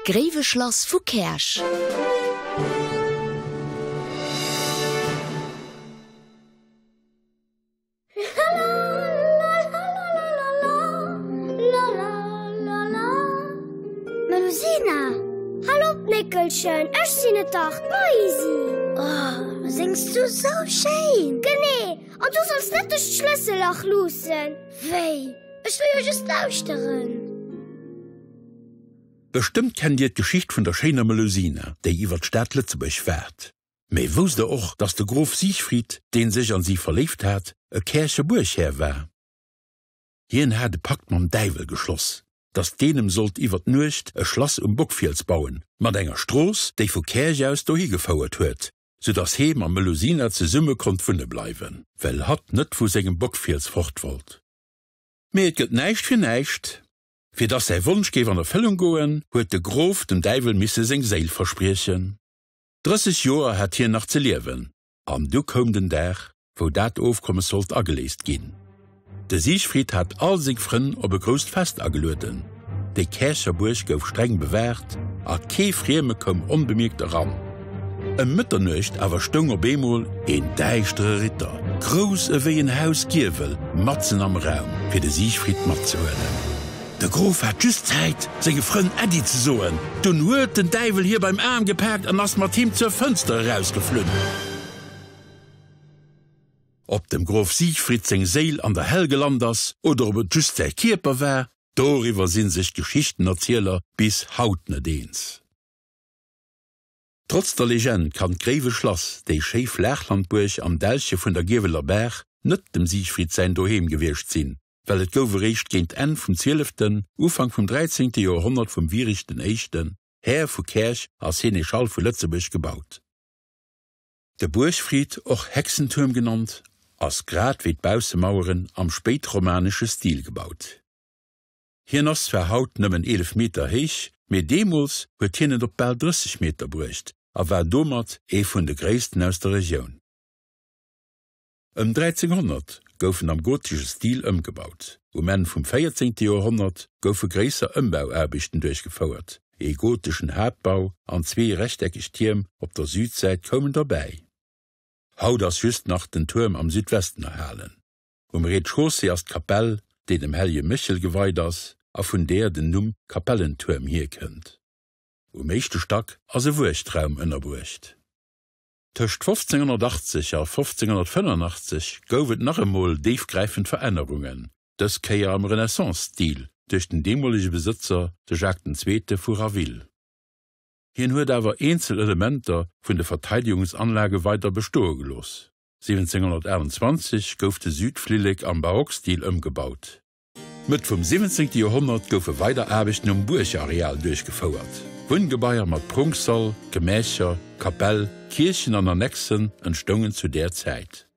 Gréiweschlass vu Käerch. Melusina, Hallo d'Néckelchen, ech sinn et dach, d'Maisi. Oh, sings du sou schéin! Genee, an du solls net duerch d'Schlëssellach luussen. Wéi? Ech wëll jo just lauschteren. Bestëmmt kennt dir d'Geschicht vun der schéiner Melusina, déi iwwer d'Stad Lëtzebuerg waart. Mee wousst der och, dass de Grof Siegfried, deen sech an si verléift hat, e Käercher Buerghär war? Hien hat e Pakt mam Däiwel geschloss, dass deen em sollt iwwer d'Nuecht e Schlass um Bockfiels bauen, mat enger Strooss, déi vu Käerch aus dohi gefouert huet. sou dass hee mam Melusina zesumme konnt wunne bleiwen, well hatt net vu sengem Bockfiels fort wollt. Mee et gëtt näischt fir näischt. Fir dass säi Wonsch géif an Erfëllung goen, huet de Grof dem Däiwel misse seng Séil verspriechen. Drësseg Joer hat hien nach ze liewen, an du koum den Dag, wou dat Ofkommes sollt ageléist ginn. De Siegfried hat all seng Frënn op e grousst Fest agelueden. Déi Käercher Buerg gouf streng bewaacht a kee Frieme koum onbemierkt eran. Ëm Mëtternuecht awer stoung op eemol een däischtere Ritter, grouss ewéi en Haus Giewel, matzen am Raum, fir de Siegfried matzehuelen. De Grof hat just Zäit, senge Frënn Äddi ze soen, dunn huet den Däiwel hie beim Aarm gepaakt an ass mat him zur Fënster erausgeflunn. Ob dem Grof Siegfried seng Séil an der Hell gelant ass oder ob et just säi Kierper war, doriwwer si sech d'Geschichtenerzieler bis haut net eens. Trotz der Legend kann d'Gréiwe Schlass, déi schéi Flaachlandbuerg am Dälche vun der Gieweler Baach, net dem Siegfried säin Doheem gewiescht sinn, well et gouf eréischt géint Enn vum zwieleften, Ufank vum dräizéngte Joerhonnert vum Wiricht den Éischten, Här vu Käerch a Seneschall vu Lëtzebuerg, gebaut. De Buergfried, och Hexentuerm genannt, ass grad wéi d'Baussemaueren am spéitromanesche Stil gebaut. Hien ass zwar haut nëmmen 11 Meter héich, mee deemools huet hien et op bal 30 Meter bruecht a war domat ee vun de gréissten aus der Regioun. Ëm 1300 gouf en am gotesche Stil ëmgebaut. Um Enn vum véierzéngte Joerhonnert goufe gréisser Ëmbauaarbechten duerchgefouert, ee goteschen Haaptbau an zwee rechteckeg Tierm op der Südsäit koumen derbäi. Haut ass just nach den Tuerm am Südwesten erhalen. Um Rez-de-chaussée ass d'Kapell, déi dem hellege Méchel geweit ass a vun deeër den Numm Kapellentuerm hierkënnt. Um éischte Stack ass e Wuechtraum ënnerbruecht. Tëscht 1580 a 1585 gouf et nach emol déifgräifend Verännerungen, dës Kéier am Renaissance-Stil, duerch den deemolege Besëtzer, de Jacques den Zweete vu Raville. Hien huet awer eenzel Elementer vun de Verteidegungsanlage weider bestoe gelooss. 1728 gouf de Südflillek am Barockstil ëmgebaut. Mëtt vum 17. Joerhonnert goufe weider Aarbechten um Buergareal duerchgefouert. Wunngebaier mat Prunksall, Gemächer, Kapell, Kierchen an Annexen entstoungen zu där Zäit.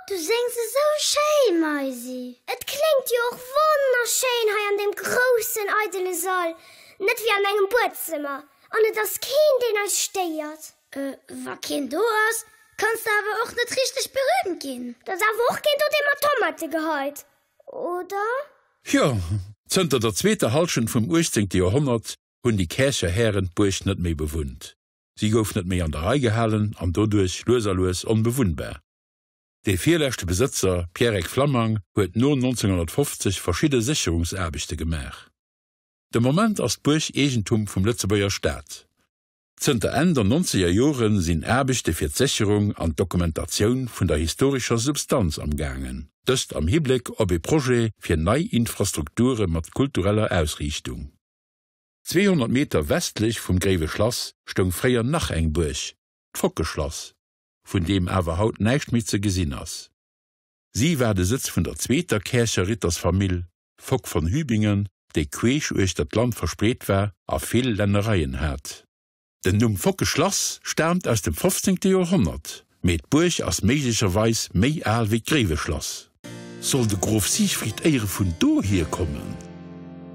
Du séngs esou schéin, Maisi. Et kléngt jo och wonnerschéin hei an deem groussen, eidele Sall, net wéi an engem Buedzëmmer. An et ass keen, deen eis stéiert. Euh, wa keen do ass, kanns de awer och net richteg berühmt ginn. Da ass awer och keen do, dee mat Tomate geheit, oder? Jo, zënter der zweeter Hallschent vum uechtzéngte Joerhonnert hunn déi Käercher Hären d'Buerg net méi bewunnt. Si gouf net méi an der Rei gehalen an doduerch lues a lues onbewunnbar. Dee virleschte Besëtzer, Pierrec Flammang, huet no 1950 verschidde Sécherungsaarbechte gemaach. De Moment ass d'Buerg Eegentum vum Lëtzebuerger Staat. Zënter Enn der nonzeger Jore sinn Aarbechte fir d'Sécherung an d'Dokumentatioun vun der historescher Substanz am gaangen. Dëst am Hibléck op ee Projet fir nei Infrastrukture mat kultureller Ausriichtung. 200 Meter westlech vum Gréiwe Schlass stoung fréier nach eng Buerg, d'Fockeschlass, vun deem awer haut näischt méi ze gesinn ass. Si war de Sëtz vun der zweeter Käercher Rittersfamill Fock von Hübingen, déi queesch uechter d'Land verspreet war a vill Lännereien hat. Den Numm Focke Schlass staamt aus dem fofzéngte Joerhonnert, mee d'Buerg ass méiglecherweis méi al wéi d'Gréiweschlass. Soll de Grof Siegfried Eyre vun do hierkommen?